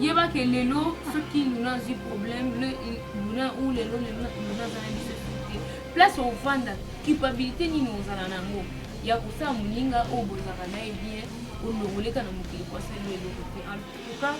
yeba ke lelo soki luna azwi problème luna ou lelo luna aza na biso te place ofanda culpabilité nini ozala na yango ya kosala moninga oyo bozalaka na ye bien olongoleka na mokili kwasali eloko te en tout cas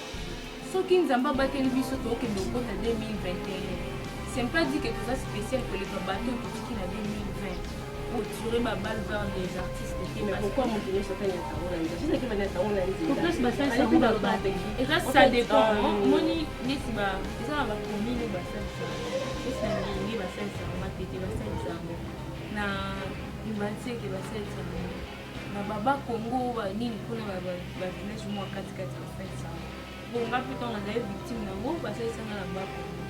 Soki Nzambe abateli biso tokende kokota 2021, c'est pas dit que toza spécial koleka bato oyo totiki na 2020 pour tirer ba balles vers les artistes te Mais pourquoi moto nyonso atani ya tango na nzela soki akebani ya tango na nzela place basalisa yango babate eza ça dépend omoni neti ba eza na bacommune oyo basalisa neti na ndenge basalisa yango matete basalisa yango na libanseke basalisa yango na baba congo ba nini kuna ba village mwa kati kati ya fete sana bon nga mpe ntango nazali victime na yango basalisa nga na baba congo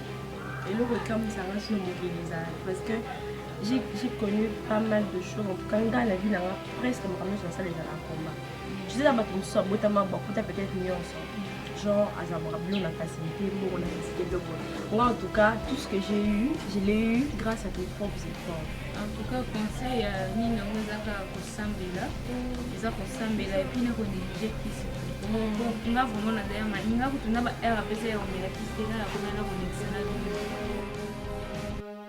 eloko ekamwisa nga sino mokili ezala parce que j'ai connu pas mal de choses en tout cas nga na vie na nga presque makambo nyonso nasala ezala combat tu sais na bato mosusu abotama bakuta peut-être nyonso genre azabaka bilo na facilité mbongo na facilité biloko moi en tout cas tout ce que j'ai eu je l'ai eu grâce à tes propres efforts en tout cas conseil ya nini yango ezaka kosambela eza kosambela epuis na konéglige kisi nga vraiment na daya mai nga kutu na ba heure apesa ya komela kisi te nga na komela na konéglige na bino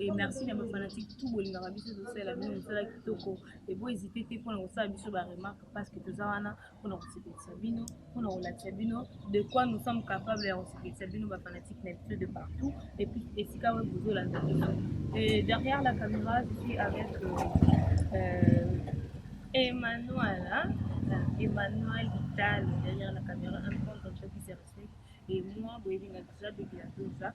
Et merci na ba fanatiques tout bolingaka biso tosala bino mosala kitoko et bo hésite te mpona kosala biso ba remarque parce que toza wana mpona kosepelisa bino mpona kolakisa bino de quoi nous sommes capables ya kosepelisa bino ba fanatiques na biso de partout et puis esika oyo bozolanda biso et derrière la caméra je suis avec euh, euh, Emmanuel hein? Emmanuel Vital derrière la caméra un grand entreprise et moi boyebi na déjà depuis la doza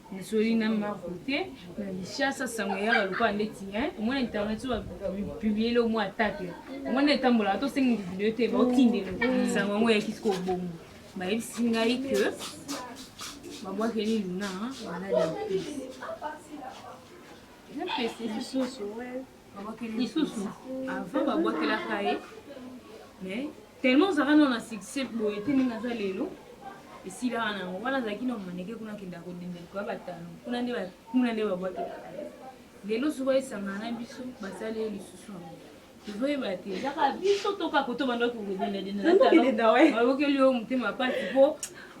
Nasoli na Marco te na Kinshasa sango eyaka lokola ndeti omona internet so bapubliele omo atake omona etambolaka tosengi video te baotindelo sango yango eyaki siko obongo bayebisi ngai ke babwakeli luna maladi ya mpesi na mpesi lisusu lisusu avant babwakelaka ye mais tellement ozalaka nao na succès boye te ndenge aza lelo esilaka nango wana azalaki na maneke kuna akendaka kodendela koya batano kuna nde kuna nde babwakelaka ye lelo soki esangana na biso basali ye lisusu yango tozoyeba te ezaka biso toka koto bandaki kokodendadendaokeli yo motema pasi po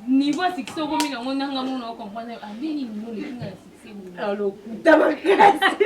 niveau ya succès okomi nango nanga mona okomprendre andeni nino lekinga ya succès lokuta makasi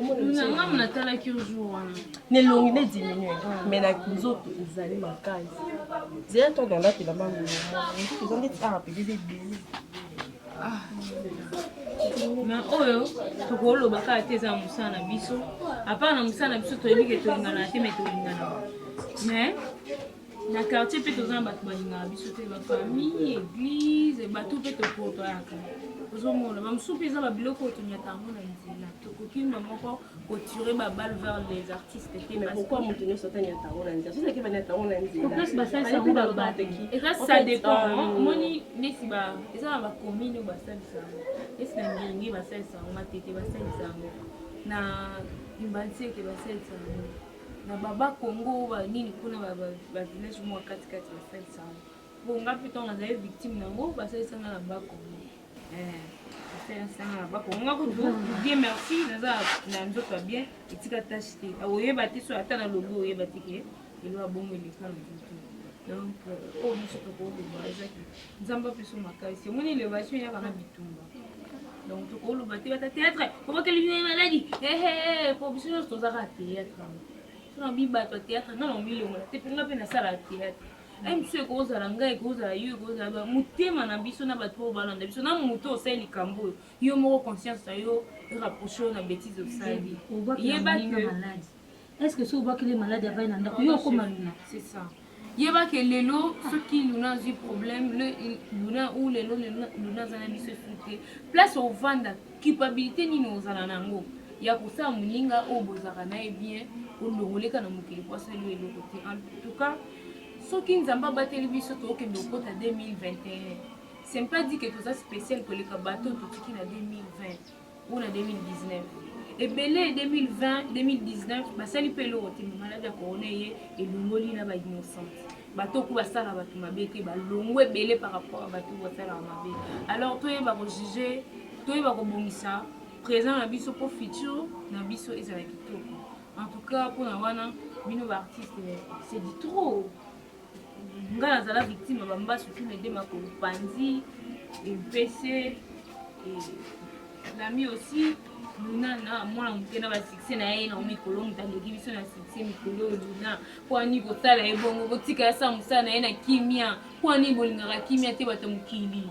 nanga natalaki yo jour wana nelongi ne diminue mais na nzoto ezali makasi zela to danda te lamba ngolo eza ndeti awa mpe eza ebele na oyo tokoloba kaka te eza mosala na biso apart na mosala na biso toyebi ke tolinganaka te me tolinganaka mais na quartier mpe toza na bato balingaka biso te bafamille église bato mpe tokotoyaka ozomona bamosusu mpe eza babiloko oyo tonyata yango na nzela tokoki mba moko kotire babal vers les artistes te pourquoi moto nyonso atanyata yango na nzela soki ake banyata yango na nzelaplace basalisa yango babateki eza ça dépend euh, omoni neti ba eza na bacommune oyo basalisa yango neti na ngiringi basalisa yango matete basalisa yango na imbanseke basalisa yango na baba congo ba nini kuna ba village mwa kati kati ba fete sana po nga mpe ntango nazali victime na yango basalisa nga na ba congo eh, basalisa nga na ba congo nga kutu bien merci naza na nzoto ya bien etika tache te oyeba te so ata na lobi oyeba te ke elo abongo eleka na nzoto donc euh, oyo nyonso tokoloba ezaki nzambe apeso makasi omoni elevation eyaka na bitumba donc tokoloba te bata théâtre obakeli bino maladi ehe po biso nyonso tozaka théâtre sona bi bato ya théâtre nga na milongola te mpe nga mpe nasala théâtre biso ekozala ngai ekozala yo ekozala motema na biso na bato oyo balanda biso na moto osali likambo oyo yo moko conscience na yo rapproche oyo na bétise osali yeba Est-ce que soki obwakeli malade avai na ndako yo okoma luna? C'est ça. Yeba ke lelo soki luna azwi problème le luna ou lelo luna aza na biso esute place ovanda culpabilité nini ozala na yango ya kosala moninga oyo bozalaka na ye bien olongoleka na mokili po asali yo eloko te en tout cas soki nzambe abateli biso tookende okota 2021 c'est pas dit ke toza spécial koleka bato totiki na 2020 oyo na 2019 ebele 2020 2019 basali mpe eloko te maladi ya corona eye elongoli na bainnocente bato oku basala bato mabe te balongwa ebele par rapport ya bato basalaka mabe alors toyeba kojuge toyeba kobongisa présent na biso mpo futur na biso ezala kitoko en tout cas mpona wana bino baartiste c'est du trop nga nazala victime ya bambasu tous les deux makolo panzi empese lami aussi luna na mwana moke na basuccès na ye na mikolo moto aleki biso na succès mikolo oyo luna kwani kosala ye bongo kotika yasa mosala na ye na kimia kwani bolingaka kimia te bato mokili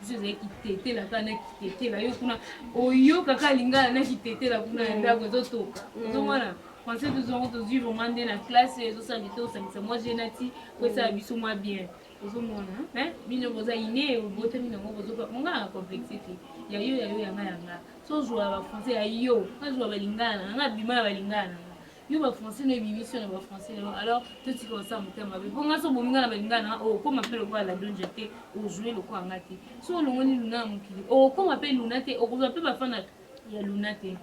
biso ezali kitetela kaka na kitetela yo kuna oyoka kaka lingala na kitetela kuna ya ndako ezotoka mm. ozomona français tozongo tozwi vraiment nde na classe ezosala bito osangisa mwa genati po esala mm. biso mwa bien ozomona bino boza ine obotami nango bozoka monga na complexe te ya yo ya yo yanga yanga sozwa bafrançais ya yo nazwa balingana nanga bima ya balingana nanga yo ba français no ebimisi yo na ba français na yo alors totika kosala motema mabe mpo ngai so bomi ngai na balinga na okokoma mpe lokola la donja te ojoue lokola ngai te so olongoni luna ya mokili okokoma mpe luna te okozwa mpe bafana ya luna te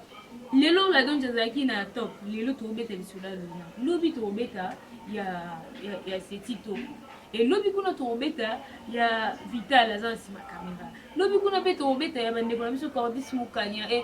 lelo la donja azalaki na top lelo tokobeta lisolo ya luna lobi tokobeta ya, ya, ya setito elobi kuna tokobeta ya vital aza na nsima kamera lobi kuna mpe tokobeta ya bandeko na biso cordis mokanya e eh,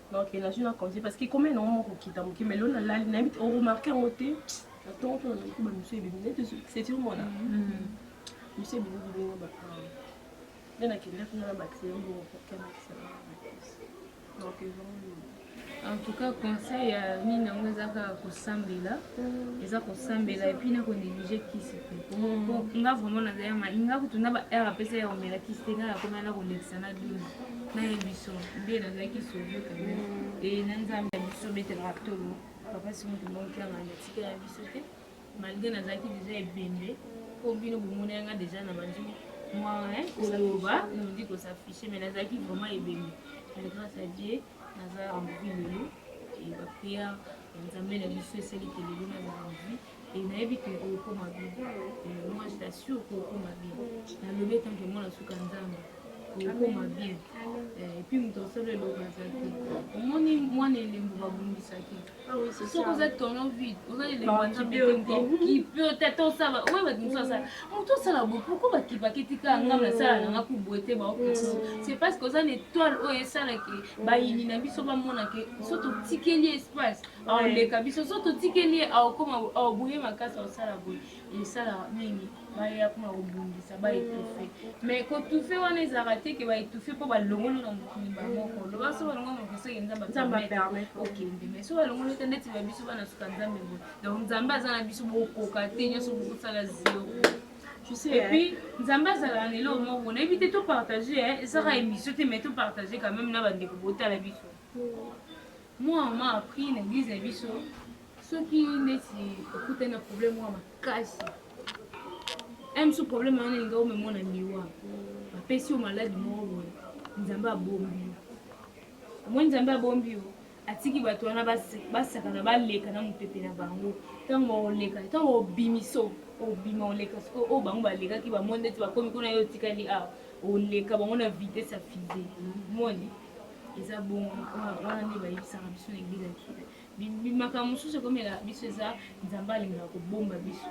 Donc na juna congé parce que combien na moko kita muke mais lona lali na bit au remarquer ngo te na tongo to na ko ba monsieur bibi net c'est tout mona monsieur bibi bibi ngo ba nde na kende kuna na ba client ngo ko kema kisala donc ils vont en tout cas conseil ya nini yango eza kaka kosambela eza kosambela epuis na konéglige kisi te po nga vraiment nazali nga kutu na ba heure apesa ya omela kisi te nga nakomela na kolekisa na duna malgre nazalaki deja ebembe mpo bino bomona yanga deja na bandi mwa koloba nodi kosafishe mai nazalaki vraiment ebembe mais grâce à dieu naza envie lelo bapriere ya nzambe na biso esali kelelo nazala envie Et nayebi que okoma bien. Et moi je t'assure que okoma bien. Nalobi tant que mwana suka nzambe. Okoma bien. Eh, et puis moto osolo eloko aza te. Omoni mwana elembo babundisaki. Ah Soki oza tono vide, oza elembo ya nzambe kipe otata osala. Oye bato mosusu asala. Moto osala bo pourquoi bakipaki tika ngai nasala na ngai kuboete baokisi. C'est parce que oza na étoile oyo esala ke bayini na biso bamona ke so totikeli espace aoleka biso so totikeli ye aokoma aobuye makasi aosala boye esalaka mingi baye akoma kobundisa baetufe mais kotufe wana ezalaka te ke baetufe mpo balongoli na mokili bamoko loba so balongoli na mokili soki nzambe okende mais so balongoli te ndeti ba biso bana suka nzambe boye donc nzambe aza na biso bokoka te nyonso bokosala zero epuis nzambe azalaka na eloko moko nayebi te topartage ezaka émission te mais topartage quand même na bandeko botala biso Moi on m'a appris na eglise na biso soki neti okutani na problème mwa makasi un biso problème wana elinga omemwa na liwa bapesi yo maladi moko boye nzambe abombi yo omoni nzambe abombi yo atiki bato wana basakana baleka na mopepe na bango ntango oleka ntango obimiso obima oleka sikoyo oyo bango balekaki bamoni ndeti bakomi kuna yo otikali awa oleka bango na vitesse ya fize moni eza bongo wana nde bayebisaka biso na eglise ya kina bimakambo mosusu ekomela biso eza nzambe alingaka kobomba biso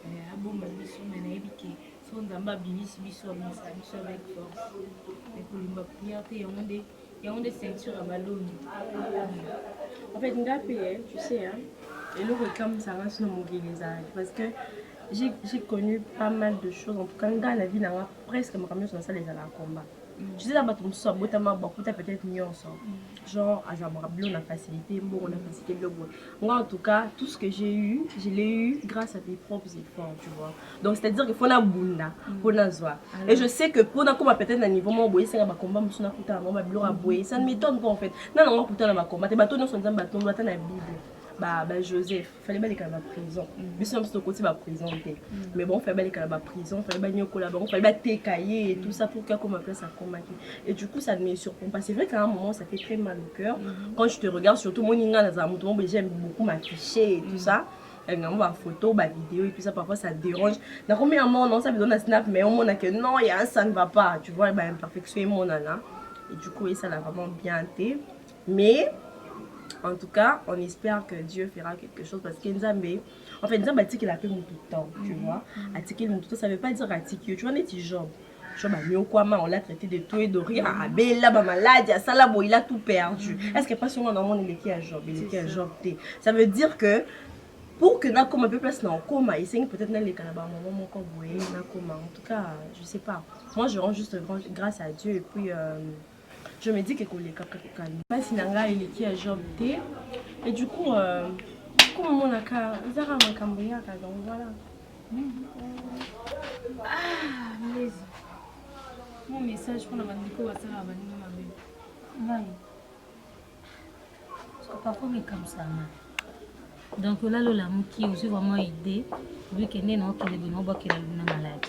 eh, abomba biso me nayebi ke so nzambe abimisi biso abimisaka biso avec force ekolimba prière te yango nde yango nde ceinture ya baloni en fait nga mpe eh, tu sais eloko ekamwisaka nso na mokili ezalaki parce que j'ai connu pas mal de choses en tout cas nga na vie nanga presque makambo nyonso nasala ezalaka combat tu sais na bato mosusu abotama bakuta peut-être nyonso genre azalaka bilo na facilité mbongo na facilité bilo boye moi en tout cas tout ce que j'ai eu je l'ai eu grâce à mes propres efforts tu vois donc c'est à dire que mpo nabunda mpo nazwa et je sais que mpo nakoma peut-être na niveau moko boye esenga bacombat mosusu nakutana bango babiloko ya boye ça ne m'étonne pas en fait na nango akutana na bacombat te bato nyonso nzambe atombo ata na bible ba, ba joseph fallait balekala ba prison biso na biso tokoti ba prison te mm. mais bango fallait balekala ba prison fallait baniokola bango fallait bateka ye tout ça pour akoma place akomaki et du coup ça ne me surprend pas c'est vrai qu'à un moment ça fait très mal au cœur mm-hmm. quand je te regarde surtout moni nga nazala moto moko j'aime beaucoup m'afficher et tout mm. ça yango bafoto bavideo et tout ça parfois ça dérange nakomi ya mona osa bizo na snap mais omona que non ya ça ne va pas tu vois baimperfection emonana et du coup esala vraiment bien te mais en tout cas on espère que dieu fera quelque chose parce que nzambe en fait nzambe atikela mpe motu temps tu mhm. vois atikeli motu temps ça veut pas dire atiki yo tu vois neti job job anyokwama on l'a traité de tout et de rien mhm. abela bamaladi asala boye il a tout perdu mhm. est ce que mpasi ngo namoni eleki ya job eleki ya job te ça veut dire que pour que nakoma mpe place na okoma esengi peut-être naleka na bamama moko boye nakoma en tout cas je sais pas moi je rends juste grâce à dieu et puis euh, Je me dis que koleka kaka kani. Pasi na ngai eleki ya Job te. Et du coup, euh, comme omonaka ezaka makambo yaka donc voilà. Ah, mais mon message mpona bandeko basalaka baninga mabe ngai parfois mekabisama donc olali olamuki ozwi vraiment idée obi kende na okende bino obakela luna maladi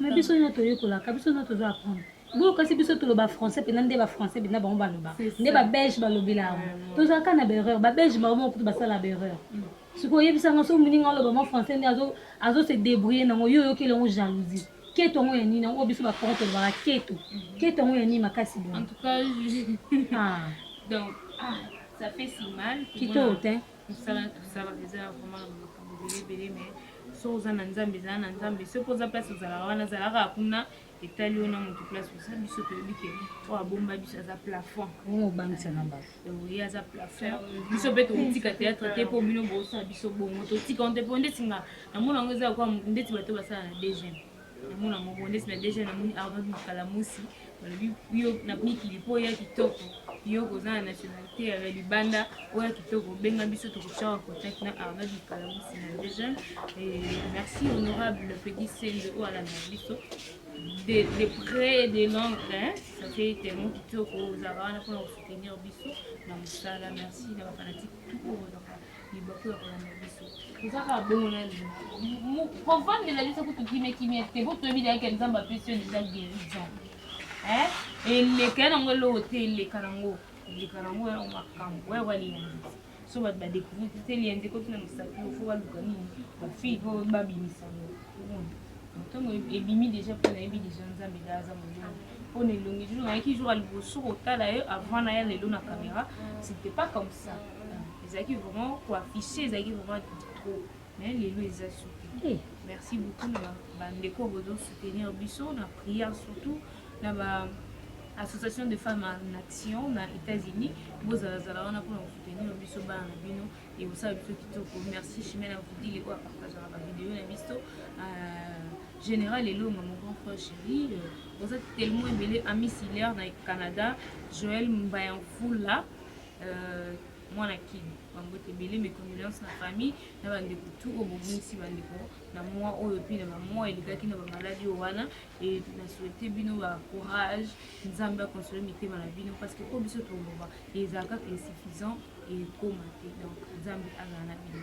mais biso nio toyekolaka biso nio tozo apprendre boyo kasi biso toloba français mpena nde bafrançais mpena bango baloba nde babelge balobela yango tozalaka na berreur babelge bango moko kutu basala berreur mm. sikoyo oyebisanga soki moninga aloba mwa français nde azose débrouille nango yo oyokeli yango jalousie keto yango ya nini yango biso bakongo tolobaka keto mm. keto yango ya nini makasi boye ah. donc ah, ça fait si mal kitoko te mosala tosala eza ya vraiment na makambo ebelebele me so oza na nzambe ezala na nzambe soki oza place ozalaka wana azalaka kuna etali yo na motu place oza biso toyebi ke oyo abomba biso aza plafond obangisa na bato ye aza plafond biso mpe tokotika théâtre te mpo bino bosala biso bongo totika nte mpo ndeti nga namona yango eza lokola ndeti bato basala na deuxième namona moko ndeti na deja namoni ardent mokalamusi balobi yo na mikili mpo oya kitoko yo koza na nationalité ya libanda oya kitoko benga biso tokotyaka contact na ardent mokalamusi na deja merci honorable petit sende oyo alanda biso de, de près et de long hein? ça fait tellement kitoko ozalaka wana mpona kosoutenir biso na mosala merci na bafanatike tout oyo ozaka libaku ya kolanda biso toza kaka bongo na lelo kovandela biso kutu kimia kimia te po toyebi dayake nzambe apesi yo deja guérison eleka ya nango eloko te eleka nango eleka nango ya makambo oyo baliyanzi so bato badecouvrir te te liyanzi ekoti na mosapi ofo baluka nini bafille po babimisa ngo ntango ebimi deja mpo nayebi deja nzambe da aza monene mpo na elongi jour nayaki jour ya liboso kotala ye avant naya lelo na caméra c'était pas comme ça ezalaki vraiment ko afficher ezalaki vraiment trop mais lelo eza suki eh. merci beaucoup na bandeko bozo soutenir biso na prière surtout na ba association de femmes en action na états-unis bozalazala wana mpona kosoutenir biso bana na bino ekosala biso kitoko merci chimene avudile oyo apartageaka bavideo na biso euh, général elonga mon grand frère chéri euh, oza tellement ebele ami silaire na canada joël mbayamfula Euh, mwana kini bambote ebele mes condoléances na famille na bandeko tu oyo bobungisi bandeko na mwa oyo mpe na bamwa elekaki na bamaladi oyo wana e na souhaite bino ba courage nzambe akonsole mitema na bino parce que oyo biso toloba ezala kaka insuffisant ekoma te donc nzambe azala na bino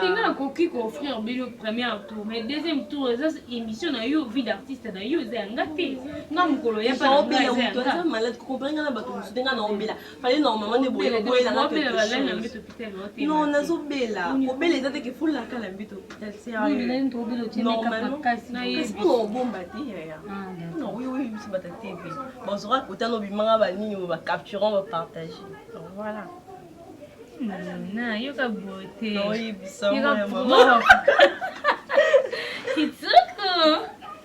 tenga nakoki koofrire bino première tour mais deuxième tour eza émission na yo vie d'artiste na yo eza ya nga te nga mokolo ya bana nga eza ya nga fale na mama nde boye boye na ngaki non nazo bela obela eza te ke fula kala mbito hopital sérieux normalement kasi mpo na obomba te yaya mpo na oyo oyo biso bata te pe bazoka kota no bimanga ba nini ba capturant ba partager donc voilà na yoka beauté oyebisa mama kitoko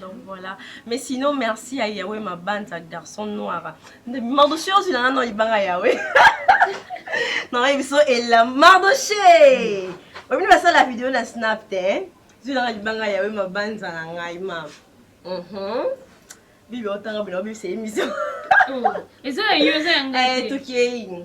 donc voilà mais sinon merci ya yawe mabanza garçon noir mardoche ozwi na nano libanga yawe nanga biso ela mardoche omini basala video na snap te eh? zwi nanga libanga yawe mabanza na ngai ma mhm. bibi otanga bino bibisa emission oh, eza ya yo eza ya ngai eh, tokei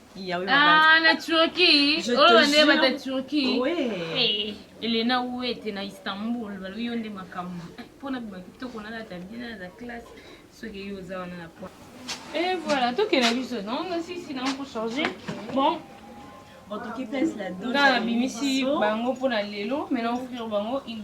Ah, na Turquie. Je oh, te jure. Bata Turquie. Oui. Hey, eh, Elena Ouete na Istanbul, balobi yo nde makambo. Eh, mpo na bima kitoko nalata bina na classe soki yo oza wana na po. Et voilà, tokela biso non nasisi nango mpo charge. Bon, otoki place la dona na bimisi bango mpo na lelo maintenant offrir bango une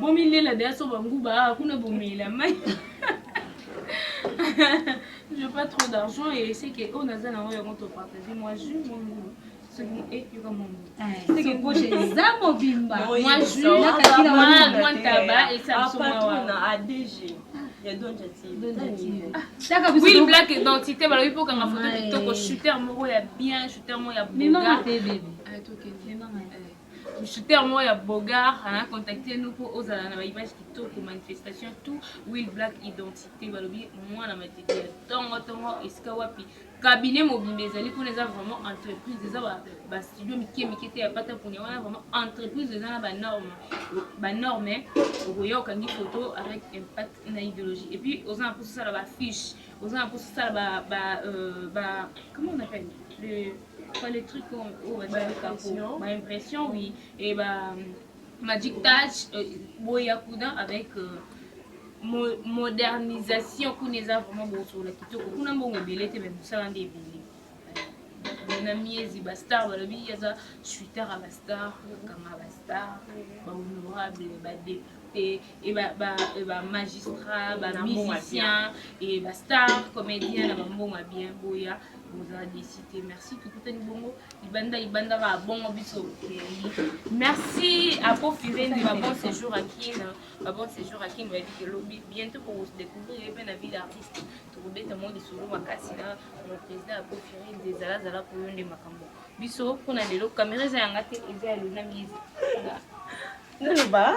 Bomi lela deya so banguba ah, kuna bomela mai. Je pas trop d'argent et c'est que on a zana oyo on to partager moi je mon nguba. eza mobimba mwantaba esabisomawana adg oui black identité balobi mpo okanga foto kitoko shooter moko ya bien shooter moko ya boga Shooter moko ya beaugard ana contacter nous po ozala na ba images kitoko manifestation tout will black identite balobi mwana matete ya tongo tongo esika wapi cabinet mobimba ezali kuna eza vraiment entreprise eza ba, ba studio mike mike te ya pata punya wana vraiment entreprise eza na ba norme ba norme okoya okangi photo avec impact na idéologie et puis oza na mposa osala ba fiche oza na mposa osala ba ba, euh, ba comment on appelle le Quoi les trucs qu'on oh, bah, bah, bah, impression. Bah, impression, oui. Et bah, Magic Touch, euh, Boyakuda avec euh, mo modernisation kuna eza vraiment bosola kitoko kuna mbongo ebele te mais mosala nde ebele na miezi bastar balobi aza chuter ya bastar bakanga bastar bahonorable badepute et ba ba et ba magistrats ba musiciens et ba stars comédiens na ba mbongo ya bien boya bozala desite merci tokutani bongo libanda libanda ba bongo biso merci apo firende ba bon séjour à kin ba bon séjour à kin bayebi ke lobi bientôt pour se découvrir ye mpe na ville artiste tokobeta mwa lisolo makasi na mon président apo firende ezalazala mpo yo nde makambo biso mpo na lelo kamera eza yanga te eza ya lona miezi naloba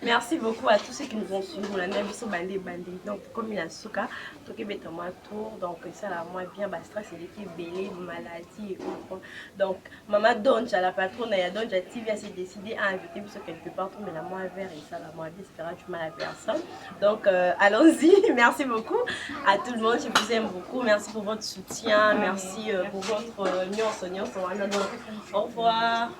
merci beaucoup à tous ceux qui nous ont suivi molanda ya biso bande ebandi donc tokomi na suka tokebeta mwa tour donc esala mwa bien bastress eleki ebele maladie et autres donc mama donja la patrona ya donja tv asi décide à inviter biso quelque part tomela mwa vert esala mwa bien espera du mal à personne donc euh, allons-y merci beaucoup à tout le monde je vous aime beaucoup merci pour votre soutien merci euh, pour votre euh, nyonso nyonso wana donc au revoir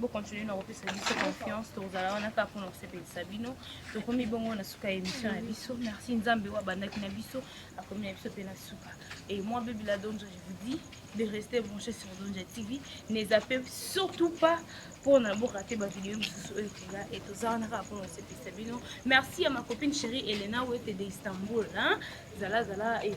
bo continuer na kopesa biso confiance tokozala wana kaka mpona kosepelisa bino tokomi bongo na suka ya émission na biso merci nzambe oyo abandaki na biso akomi na biso mpe na suka et moi bebe la donja je vous dis de rester branché sur donja tv ne zappe surtout pas mpona borate bavideo mosusu oyo ekoya e toza wana kaka mpona kosepelisa bino merci ya ma copine chérie elena wete de istanbul zalazala e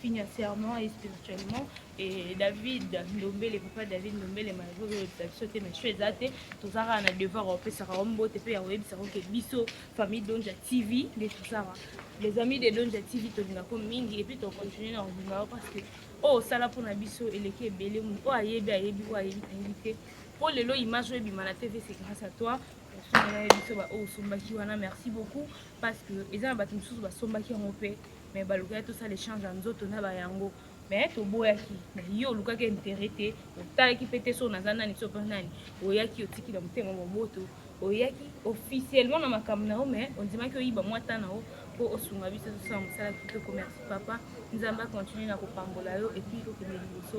financièrement et spirituellement et david ndombele papa david ndombele malgré oyebisa biso te mais choix eza te toza kaka na devoir ya kopesaka yo mbote mpe ya koyebisaka oke biso famille donja tv nde tosaka les amis de donja tv tolingako mingi epuis tocontinue na kolinga yo parce que oyo osala mpo na biso eleki ebele moto oyo ayebi ayebi oyo ayebi ayebi te mpo lelo image oyo ebima na tv c'est grâce à toi osomela biso baoyo osombaki wana merci beaucoup parce que eza na bato mosusu basombaki yango mpe mais balukaki tosala échange ya nzoto na bayango mais toboyaki mais yo olukaki intérêt te otalaki mpe te so naza nani so mpe nani oyaki otiki na motema moboto oyaki officiellement na makambo na yo mais ondimaki oyiba mwa ta na yo mpo osunga biso tosala mosala kitoko merci papa nzambe akontinue na kopambola yo epuis kokende liboso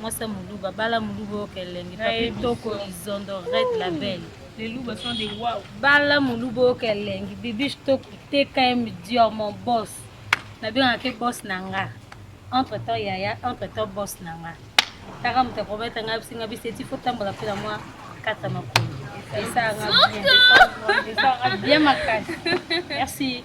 Mwasi ya muluba bala muluba oyo kelengi papi toko izondo red label Les loups sont des wow. Bala muluba oyo kelengi bibiche toko tkm dior mon boss nabengaka boss na nga entre temps yaya entre temps boss na nga taka moto akomettre nga bisinga biseti fo tambola mpe na mwa kata makolo esanga bien makasi merci